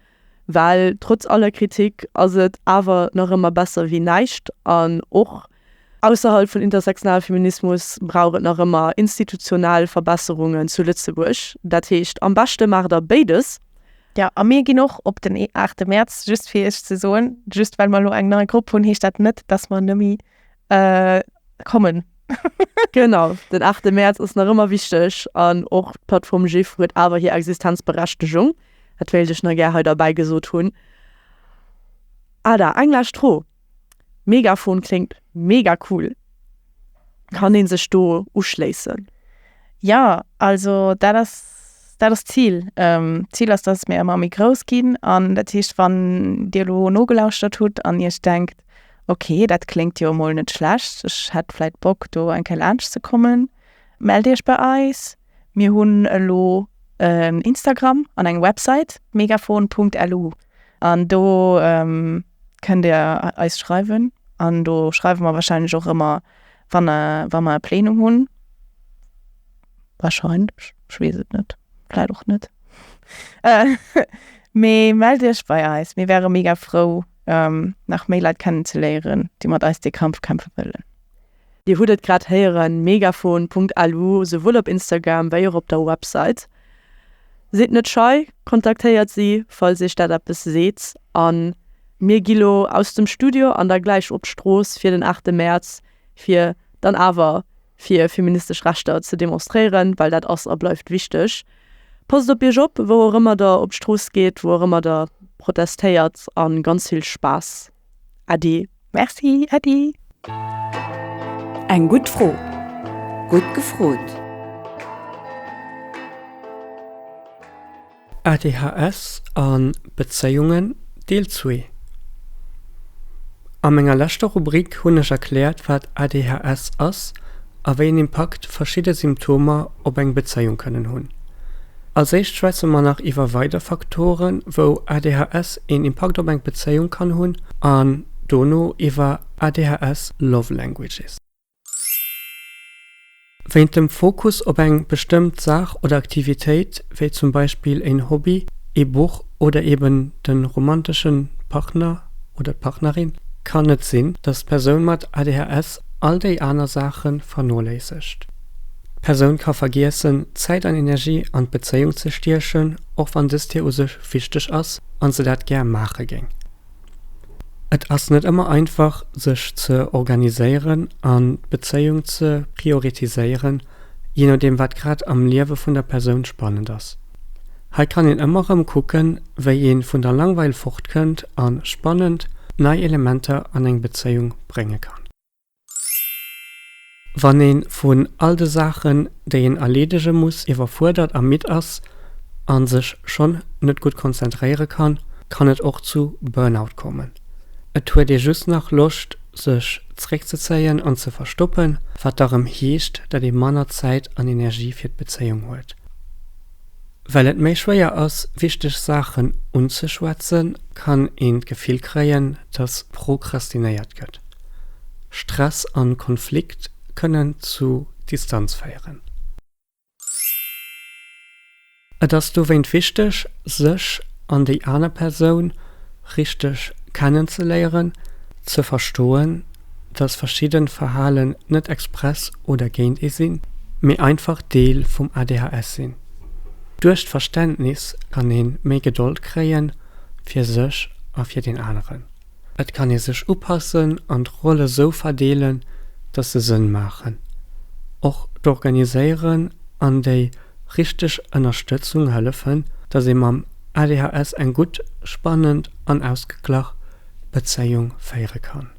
well trotz aller Kritik ass et awer nach ëmmer besser wéi näischt an och ausserhalb vun intersektionalem Feminismus brauch et nach ëmmer institutionell Verbesserungen zu Lëtzebuerg. Dat heescht, am beschte maacht der béides, Jo, a mir ginn och op den aachte Mäerz, just fir Iech ze soen. Just well mer elo eng nei Grupp hunn, heescht dat net, dass mer net méi kommen. Genau, den aachte Mäerz ass nach ëmmer wichteg an och d'Plattform GIF huet awer hir Existenzberechtegung. Dat wéilt ech nach gär hei derbäi gesot hunn. Ada, eng lescht Fro. Megafon kléngt mega cool. Kann een sech do uschléissen? Ja, also dat ass, dat ass d'Zil. D'Zil ass, datt mir ëmmer méi grouss ginn. An dat heescht, wann Dir elo nogelauschtert hutt an Iech denkt, ok, dat kléngt jo emol net schlecht, ech hätt vläit Bock, do eng Kéier laanschtzekommen, mellt Iech bei eis. Mir hunn elo en Instagram an eng Website, megafon.lu, an do kënnt Dir eis schreiwen an do schreiwe mer warscheinlech och ëmmer, wann e, wa mer e Plenum hunn. Warscheinlech, ech weess et net, vläicht och net. Mee mellt Iech bei eis, mir wäre mega frou, nach méi Leit kennenzeléieren, déi mat eis dee Kampf kämpfe wëllen. Dir hutt et grad héieren, Megafon.lu, souwuel op Instagram wéi och op der Website. Sidd net schei, kontaktéiert si, falls iech dat eppes seet. A mir gi lo aus dem Studio an da gläich op d'Strooss fir den 8 Mäerz, fir dann awer fir feministesch Rechter ze demonstréieren, well dat ass a bleift wichteg. Passt op iech op, wou och ëmmer der op d'Strooss geet, wou och ëmmer der protestéiert a ganz vill Spaass! Äddi. Merci Äddi. Eng gutt Fro. Gutt gefrot. ADHS a Bezéiungen, Deel zwee A menger leschter Rubrik hunn ech erkläert, wat ADHS ass a wéi en Impakt verschidde Symptomer op eng Bezéiung kënnen hunn. Als éischt schwätze mer nach iwwer weider Faktoren, wou ADHS een Impakt op eng Bezéiung kann hunn an dono iwwer ADHS Love Languages. Wéint dem Fokus op eng bestëmmt Saach oder Aktivitéit, wéi zum Beispill een Hobby, ee Buch oder eben de romanteschen Partner oder d'Partnerin, kann et sinn, dass d'Persoun mat ADHS all déi aner Saache vernoléissegt. D'Persoun ka vergiessen, Zäit an Energie an d'Bezéiung ze stiechen, och wann dëst hir u sech wichteg ass an se dat gär maache géing. Et ass net ëmmer einfach, sech ze organiséieren an d'Bezéiung ze prioritiséieren, jee nodeem wat grad am Liewe vun der Persoun spannend ass. Hei kann een ëmmer rëm kucken, wéi ee vun der Langweil fortkënnt a spannend nei Elementer an eng Bezéiung brénge kann. Wann een vun all de Saachen déi een erleedege muss iwwerfuerdert a midd ass an sech schonn net gutt konzentréiere kann, kann et och zu Burnout kommen. Et huet ee just nach Loscht sech zréckzezéien an ze verstoppen, wat da rëm heescht dat ee manner Zäit an Energie fir d'Bezéiung huet. Well et méi schwéier ass, wichteg Saachen unzeschwätzen, kann een d'Gefill kréien, dass prokrastinéiert gëtt. Stress an Konflikt kënnen zu Distanz féieren. Et ass dowéint wichteg, sech an déi aner Persoun richteg kennenzeléieren, ze verstoen, dass verschidden Verhalen net express oder géint ee sinn, mee einfach Deel vum ADHS sinn. Duerch d'Verständnis kann ee méi Gedold kréien, fir sech a fir deen aneren. Et kann ee sech upassen an d'Rolle sou verdeelen, dass se Sënn maachen. Och d'Organiséieren an déi richteg Ënnerstëtzung hëllefen, dass ee mam ADHS eng gutt, spannend an ausgeglach Bezéiung féiere kann.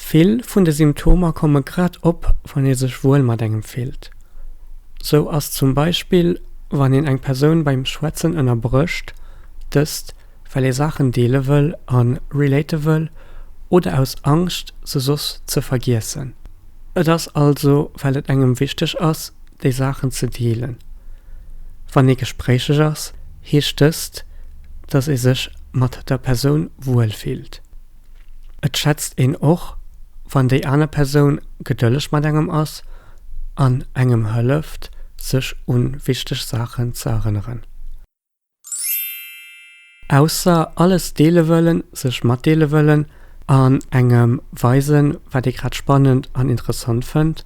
Vill vun de Symptomer komme grad op, wann ee sech wuel mat engem fillt. Sou ass zum Beispill, wann een eng Persoun beim Schwätzen ënnerbrécht, dëst well ee Saachen deele wëll a relaten wëll oder aus Angscht, se soss ze vergiessen. Et ass also, well et engem wichteg ass, déi Saachen ze deelen. Wann ee gespréicheg ass, Heescht dëst, dass ee sech mat der Persoun wuel fillt? Et schätzt een och, wann déi aner Persoun gedëlleg mat engem ass an engem hëlleft, sech u wichteg Saachen ze erënneren. Ausser alles deele wëllen, sech matdeele wëllen an engem weisen, wat ee grad spannend an interessant fënnt,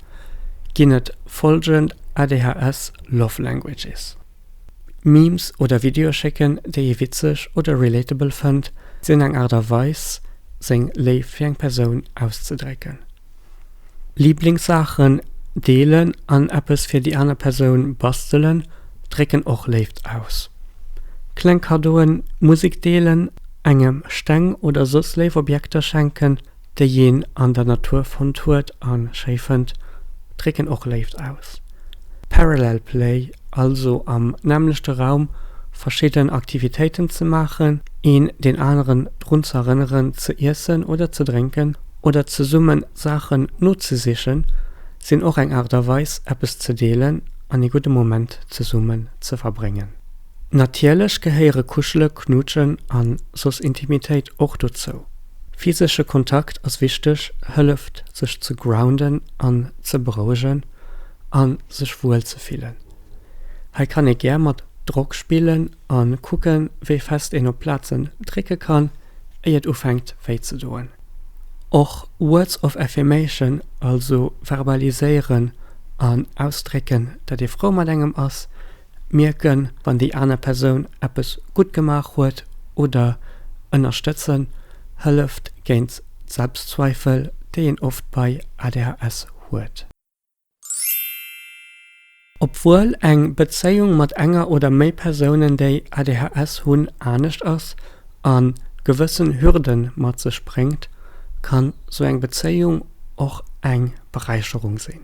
ginn et follgend ADHS-Love Languages. Memes oder Videoe schécken, déi ee witzeg oder relatable fënnt, sinn eng Aart a Weis, seng Léift fir eng Persoun auszedrécken. Liblingssaachen deelen an eppes fir déi aner Persoun bastelen drécken och Léift aus. Kleng Kaddoen, Musek deelen, engem Steng oder soss léif Objekter schenken déi een an der Natur fonnt huet a schéi fënnt, drécken och Léift aus. Parallel Play, also am nämmlechte Raum verschidden Aktivitéiten ze maachen, een deen aneren drun ze erënneren ze iessen oder ze drénken oder zesumme Saachen nozesichen, sinn och eng Aart a Weis eppes ze deelen an ee gudde Moment zesummen ze verbréngen. Natierlech gehéiere Kuschelen, Knuutschen a soss Intimitéit och dozou. Physesche Kontakt ass wichteg, hëlleft sech ze grounden an ze berouegen a sech wuel ze fillen. Hei kann ee gär mat Drock spillen a kucken, wéi fest een op Plazen drécke kann, éi et ufänkt wéi ze doen. Och Words of Affirmation, also verbaliséieren an ausdrécken, dat ee frou mat engem ass, mierken, wann déi aner Persoun eppes gutt gemaach huet oder ënnerstëtzen hëlleft géint d'Selbstzweifel, déi een oft bei ADHS huet. Obwuel eng Bezéiung mat enger oder méi Persounen, déi ADHS hunn, anescht ass a gewëssen Hürde mat sech bréngt, kann sou eng Bezéiung och eng Beräicherung sinn.